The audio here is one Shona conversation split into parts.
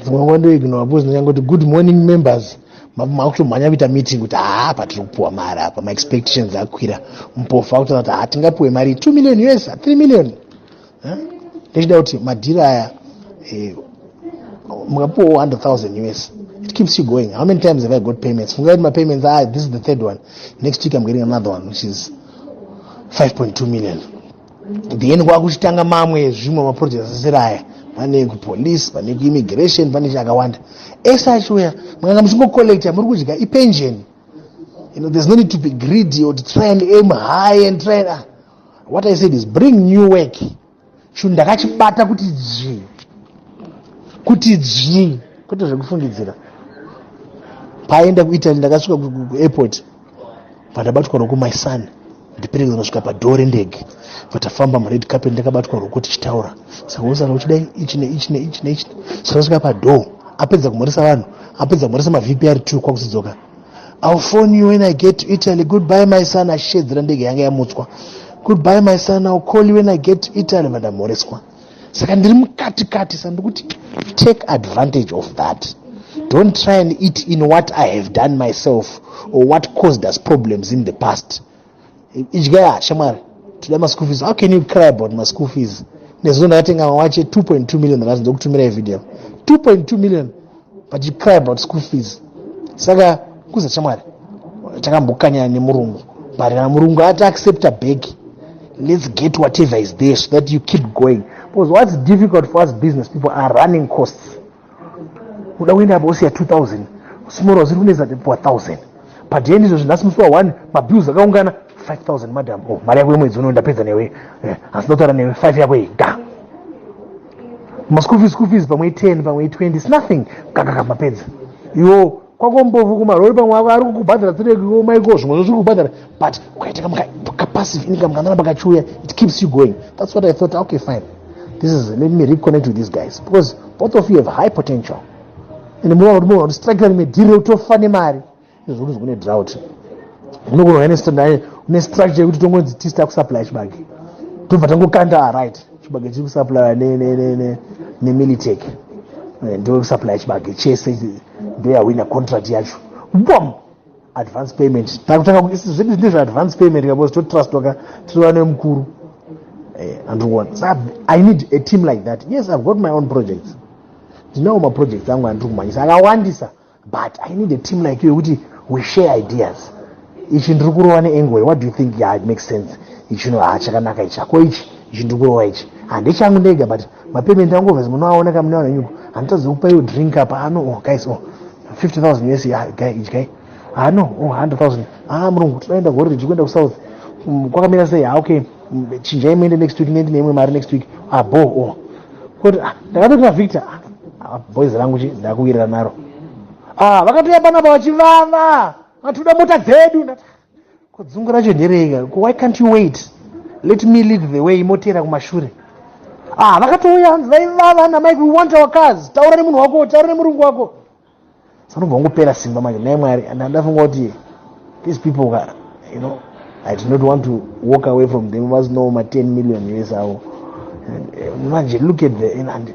dzimwe nguva ndoignora because ndingangoti good morning members makutomhanya kuita meeting kuti haa apa tiri kupiwa mari apa maexpectations akwira mpofu akutona kuti haa tingapiwe mari two million us three million ndechida kuti madhiri aya eh, mukapiwa one hundred thousand us it keeps you going how many times have i got payments fungai kuti mapayments ah this is the third one next week i'm getting another one which is five point two million then kwakuchitanga mamwe zvimwe maproject asisiri aya pane kupolice pane kuimmigration pane chakawanda ese achiuya mukanga muchingocollecta muri kudya ipension you know, there's no need to be greedy or to try and aim high and try and, uh, what i said is bring new work chinhu ndakachibata kuti dzvii kuti dzvii kwete zvekufungidzira paaenda kuitaly ndakasvika kuairport pandabatwa ruoko my son ndiperekeza kusvika padhoo rendege patafamba mured carpet ndakabatwa ruoko tichitaura saka usana uchidai ichi neichi neichi neichi saka svika padhoo apedza kumhoresa vanhu apedza kumhoresa mavpr t kwakuzidzoka ill phone you when i get to italy goodbye my son achishedzera ndege yanga yamutswa goodbye my son ill call you when i get to italy vandamhoreswa saka ndiri mukati kati sa ndikuti take advantage of that don't try and eat in what i have done myself or what caused us problems in the past idyaya shamwari toda maschool fees how can you cry about maschool fees nezuro ndakatenga mawache 2.2 million ndakazonza kutumira ivideo 2.2 million but you cry about school fees saka kuza chamwari takambokanyana nemurungu but kana murungu ati accepta bag let's get whatever is there so that you keep going because what's difficult for us business people are running costs uda kuenda apa usiya 2000 small was rune zati puwa 1000 but yendi izvo zvinasi musi wa 1 mabills akaungana 5000 madam oh mari yako yemwedzi uno ndapedza newe eh, asi ndotaura newe 5 yako iyi ga maschool fees school fees pamwe i10 pamwe i20 its nothing kakaka mapedza iwo kwakombovu kumarori pamwe avo ari kukubhadhara tsirekiwo maiko zvimwe zvo zviri kubhadhara but ukaita kapassive income kanana pakachiuya it keeps you going that's what i thought okay fine this is let me reconnect with these guys because both of you have high potential and munoona kuti munoona kuti strike rimwe dhiri rekutofa nemari izvo kuti kune drought unogona kuva nestandaye une structure yekuti tongonzi tisita kusuplya chibage tobva tangokanda aright chibage chiri kusuplya nemilitec eh, ndo kusuplya chibage chese ndoyahwina contract yacho bom advance payment takutanga zvedu zvine zveadvance payment kabos totrustwaka tirova nemukuru eh, andikuona sa i need a team like that yes i've got my own projects ndinawo maprojects angu andiri kumhanyisa akawandisa but i need a team like you yekuti we share ideas ichi ndiri kurova neangle what do you think yeah, it makes sense ichi no haa chakanaka ichi ako ichi ichi ndiri kurova ichi handichangu ndega but mapayment angu obviously munoaona ka munoaona nyuko handitadzi kupa iwo drink apa ano oh guys oh 50000 us yeah, guy ichi guy ano oh 100000 ah murungu tinoenda gore riji kuenda kusouth mm, kwakamira sei ah okay chinjai muende next week nendi neimwe mari next week abo ah, oh. koti ah, ndakatoti navictor ah, boys rangu chi ndakuwirira naro ah vakatouya panapa vachivava vatoda mota dzedu ko dzungu racho ndereika ko why can't you wait let me lead the way moteera kumashure ah vakatouya hanzi vaivava namike we want our cars taura nemunhu wako taura nemurungu wako Anobva ngopera simba manje nhai Mwari and ndafunga kuti these people ka you know I did not want to walk away from them was no ma 10 million years ago eh, manje look at the and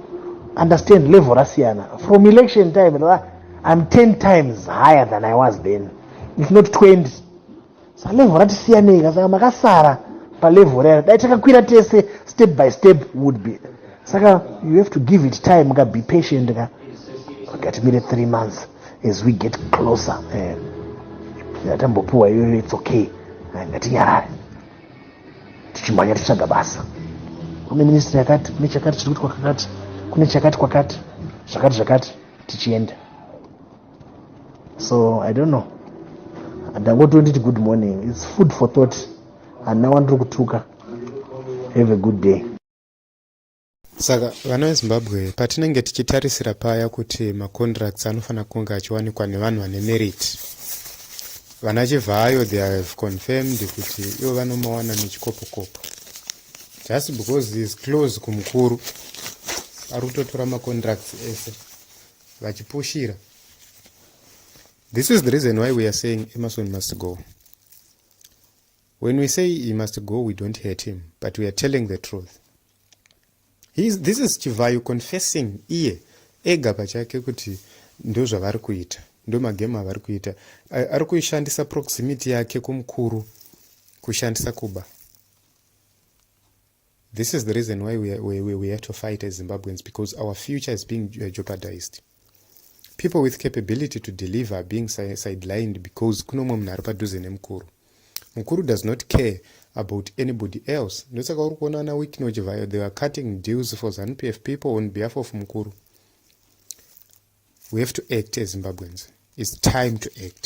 understand level rasiyana from election time I'm 10 times higher than I was then if not 20 salevho rati siyanei ka saka makasara palevho rayo dai takakwira tese step by step would be saka you have to give it time ka be patient ka ngatimire three months as we get closer eh, yatambopiwa iyoyo its okay eh, ngatinyarare tichimhanya tichitsvaga basa kune ministry yakati kune chakati chiri kuti kwakakati kune chakati kwakati zvakati zvakati tichienda so i don't know ndangotonditi good morning its food for thought handina wandiri kutuka have a good day saka vana vezimbabwe patinenge tichitarisira paya kuti macontracts anofanira kunge achiwanikwa nevanhu vane merit vana chivhayo they have confirmed kuti ivo vanomawana nechikopokopo just because is close kumukuru ari kutotora macontracts ese vachipushira this is the reason why we are saying emerson must go when we say he must go we don't hate him but we are telling the truth is, this is chivhayo confessing iye ega pachake kuti ndozvavari kuita ndomagemu avari kuita ari kuishandisa proximity yake kumukuru kushandisa kuba This is the reason why we, we, we, we have to fight as Zimbabweans because our future is being uh, jeopardized. People with capability to deliver are being sidelined because kuno mumwe munhu ari padhuze nemukuru. Mukuru does not care about anybody else. Ndosaka uri kuona ana Wikino Chivhayo they are cutting deals for ZanuPF people on behalf of mukuru. We have to act as Zimbabweans. It's time to act.